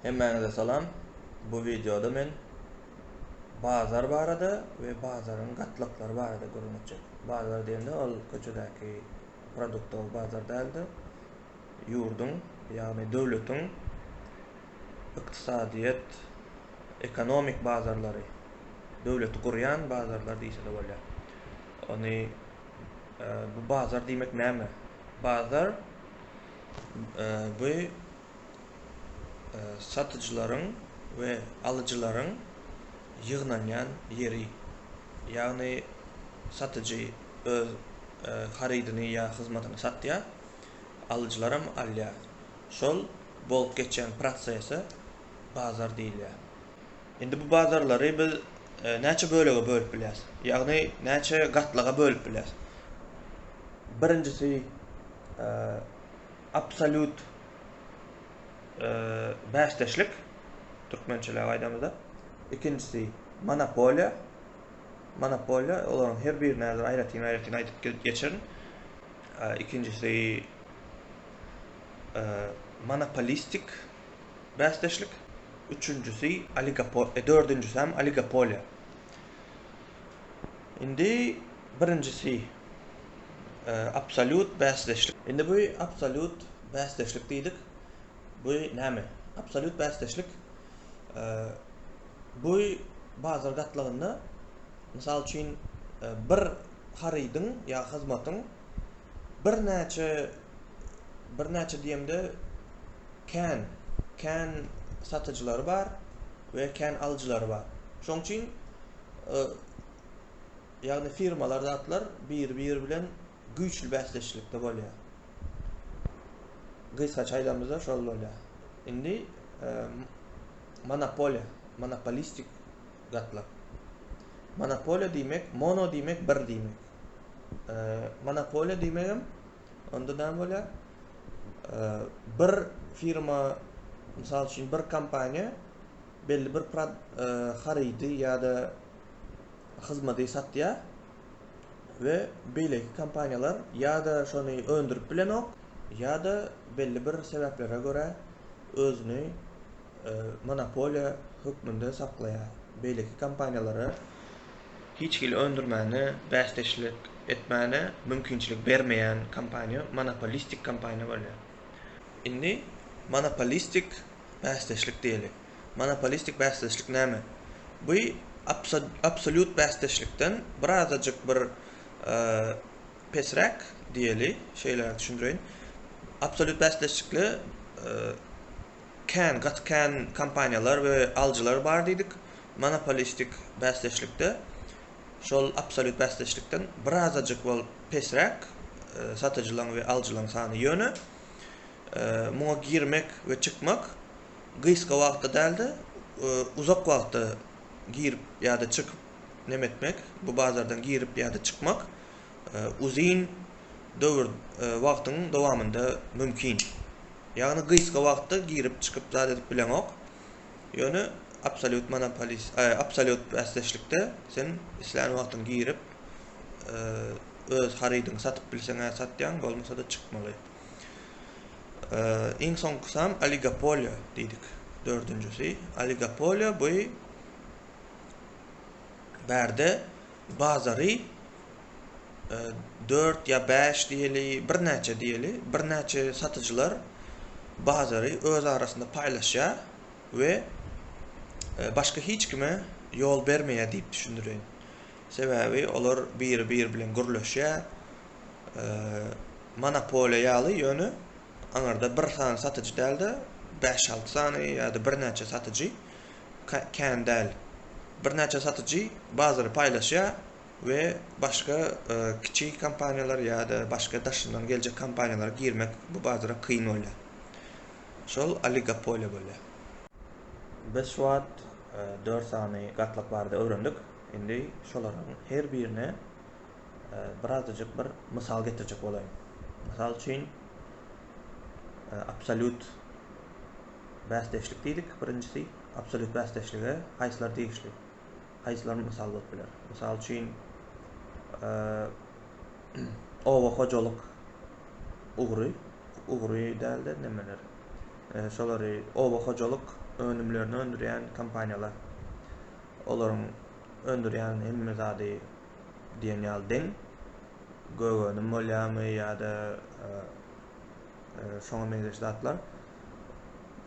Hemmäňize salam. Bu wideoda men bazar barada we bazaryň gatlaklary barada gürrüň etjek. Bazar diýende ol köçedäki produktowy bazar däl-de, ýurduň, ýagny döwletiň ykdysadyýet, ekonomik bazarlary, döwleti gurýan bazarlar diýse-de bolýar. Ony bu bazar diýmek näme? Bazar bu satyjylaryň we alyjylaryň ýygnanýan ýeri, ýagny satyjy öz harydyny ýa hyzmatyny satýar, alyjylaram alýar. Şol bolup geçýän prosese bazar diýilýär. Indi bu bazarlary biz näçe bölege bölüp bilýäris? Ýagny näçe gatlaga bölüp bilýäris? Birinjisi, Absolýut bäşdeşlik, türkmençeläp aýdamyzda. Ikinjisi, monopoliýa. Monopoliýa, olaryň her birini häzir aýratyn-aýratyn aýdyp geçerin. Ikinjisi, monopolistik bäşdeşlik. Üçünjisi, oligopol, dördünjisem, oligopoliýa. Indi birinjisi absolýut bäsdeşlik. Indi bu absolýut bäsdeşlik diýdik. Bu näme? Absolýut bäsdeşlik bu bazar gatlagynda mysal üçin bir harydyň ýa hyzmatyň birnäçe birnäçe diýemde kän kän satyjylary bar we kän alyjylary bar. Şoň üçin ýagny firmalar zatlar bir-biri bilen güýçli bäsdeşlikde bolýar. Gysga çaýlamyzda şol bolýar. Indi monopoliýa, monopolistik zatlar. Monopoliýa diýmek, mono diýmek bir diýmek. Monopoliýa diýmek hem onda näme bolýar? Bir firma, mysal üçin bir kompaniýa belli bir harydy ýa-da hyzmady satýar we beýleki kompaniýalar ýa-da şony öndürip bilenok, ýa-da belli bir sebäplere görä özüni monopoliýa hökmünde saklaýar, beýleki kompaniýalara hiç hili öndürmäne, bäsdeşlik etmäne mümkinçilik bermeýän kompaniýa monopolistik kompaniýa bolýar. Indi monopolistik Bäsdeşlik diýeli. Monopolistik bäsdeşlik näme? Bu absolýut bäsdeşlikden birazajyk bir pesräk diýeli, şeýle düşündireýin. Absolýut bäsdeşlikde kän, gaty kän kompaniýalar we alyjylar bar diýdik. Monopolistik bäsdeşlikde şol absolýut bäsdeşlikden birazajyk bolup pesräk satyjylaryň we alyjylaryň sany. Ýöne Muňa girmek we çykmak gysga wagtda däl-de, uzak wagtda girip ýa-da çykyp neme etmek, bu bazardan girip ýa-da çykmak uzyn döwür, wagtyň dowamynda mümkin. Ýagny gysga wagtda girip çykyp zat edip bileňok, ýöne absolýut monopolis, absolýut bäsdeşlikde sen islän wagtyň girip öz harydyňy satyp bilseň-ä satýaň, bolmasa-da çykmaly. Iň soňkusam oligopoliýa diýdik. Dördünjisi oligopoliýa bu bärde bazary 4 ýa 5 diýeli, birnäçe diýeli, birnäçe satyjylar bazary öz arasynda paýlaşýar we e, başga hiç kime ýol bermeýär diýip düşündirin. Sebäbi olar biri-biri bilen gürleşýär, monopoliýa ýaly, ýöne aňyrda bir sany satyjy däl-de, bäş-alty sany ýa-da birnäçe satyjy kän däl. Birnäçe satyjy bazary paýlaşýar we başga kiçi kompaniýalar ýa-da başga daşyndan geljek kompaniýalara girmek bu bazara kyn bolýar. Şol oligopoliýa bolýar. Biz şu wagt dört sany gatlak barada öwrendik. Indi şolaryň her birine birazajyk bir mysal getirjek bolaýyn. Mysal üçin, absolýut bäsdeşlik diýdik. Birinjisi absolýut bäsdeşlige haýsylar degişli? Haýsylar mysal bolup biler? Mysal üçin, oba hojalyk ugry, ugry dälde nemeler? Şolary oba hojalyk önümlerini öndürýän kompaniýalar. Olaryň öndürýän hemme zady diýen ýaly deň gögenim bolýarmy ýa-da e, e, şoňa meňzeş zatlar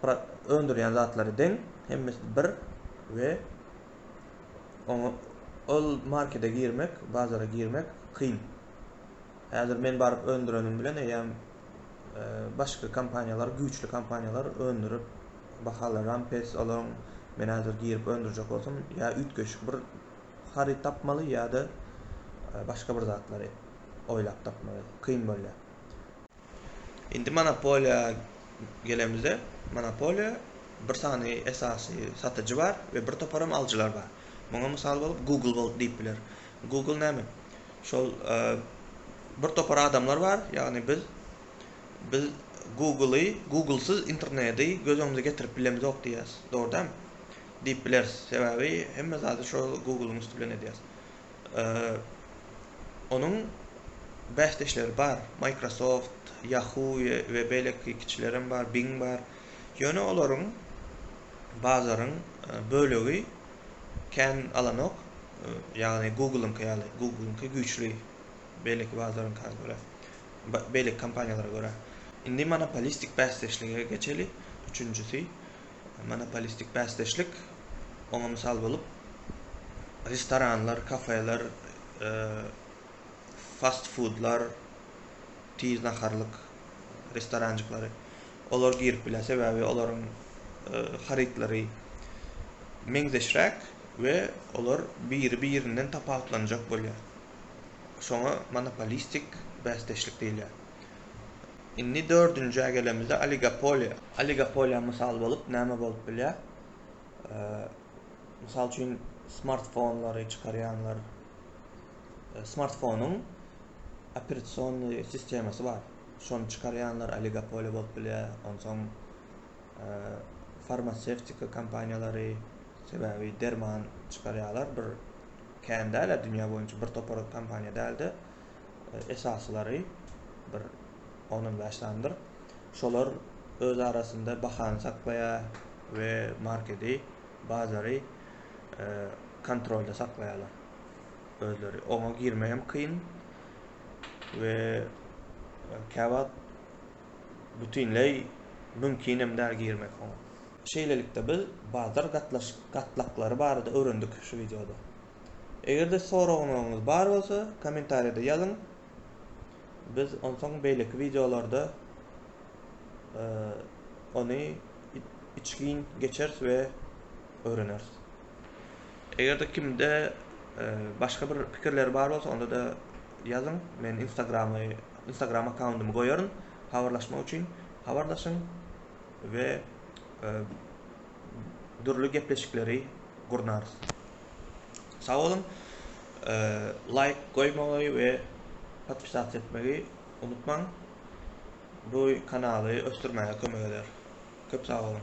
öndürýän zatlary deň hemmesi bir we oňa ol markete girmek bazara girmek kyn häzir men baryp öndürenim bilen eýýäm e, başga kompaniýalar güýçli kompaniýalar öndürip bahalar ram pes olaryň men häzir girip öndürjek bolsam ýa üýtgeşik bir Haryt tapmaly ýa-da başga bir zatlary oýlap tapmaly kyn bolýar. Indi monopoliýa gelemizde, monopoliýa bir sany esasy satyjy bar we bir toparam alyjylar bar. Muňa mysal bolup Google bolup diýip biler. Google näme? Şol bir topar adamlar bar, ýagny biz biz Google-y, Google-syz interneti göz öňümize getirip bilemizok diýýäs, dogry dämi? diýip bileris. Sebäbi hemme zady şo Google-yň üsti bilen edýäris. Onuň bäsdeşleri bar, Microsoft, Yahoo we beýleki kiçilerem bar, Bing bar. Ýöne olaryň bazaryň bölegi kän alanok, ýagny Google-yňky ýaly. Google-yňky güýçli beýleki bazaryňka görä, beýleki kompaniýalara görä. Indi monopolistik bäsdeşlige geçeli, üçünjisi. Monopolistik bäsdeşlik oňa mysal bolup, restoranlar, kafeler, fast-fudlar, tiz naharlyk restoranjyklary, olar girip bilýär, sebäbi olaryň harytlary meňzeşräk we olar biri-birinden tapawutlanjak bolýar. Şoňa monopolistik bäsdeşlik diýilýär. Indi dördünjä gelemizde oligopoliýa. Oligopoliýa mysal bolup näme bolup bilýär? Mysal üçin smartfonlary çykarýanlar. Smartfonyň operasiony sistemasy bar. Şony çykarýanlar oligopoliýa bolup bilýär. Onsoň farmasewtika kompaniýalary sebäbi derman çykarýarlar bir kän däl-ä dünýä boýunça bir topar kompaniýa däl-de. esaslary bir on-on bäş sanydyr. Şolar öz arasynda bahany saklaýar we markedi, bazary kontrolda saklaýarlar özleri. Oňa girmek hem kyn we käwagt bütinleý mümkin hem däl girmek oňa. Şeýlelikde biz bazar gatlaklary barada öwrendik şu wideoda. Eger-de soraglaryňyz bar bolsa, kommentariýada ýazyň. Biz onsoň beýleki wideolarda ony içgin geçeris we öwreneris. Eger-de kimde başga bir pikirleri bar bolsa, onda-da ýazyň. Men Instagramy, Instagram akkaundymy goýaryn. Habarlaşmak üçin habarlaşyň we dürli gepleşikleri gurnarys. Sag boluň. Laýk goýmagy we podpisatsa etmegi unutmaň. Bu kanaly ösdürmäge kömek eder. Köp sag boluň.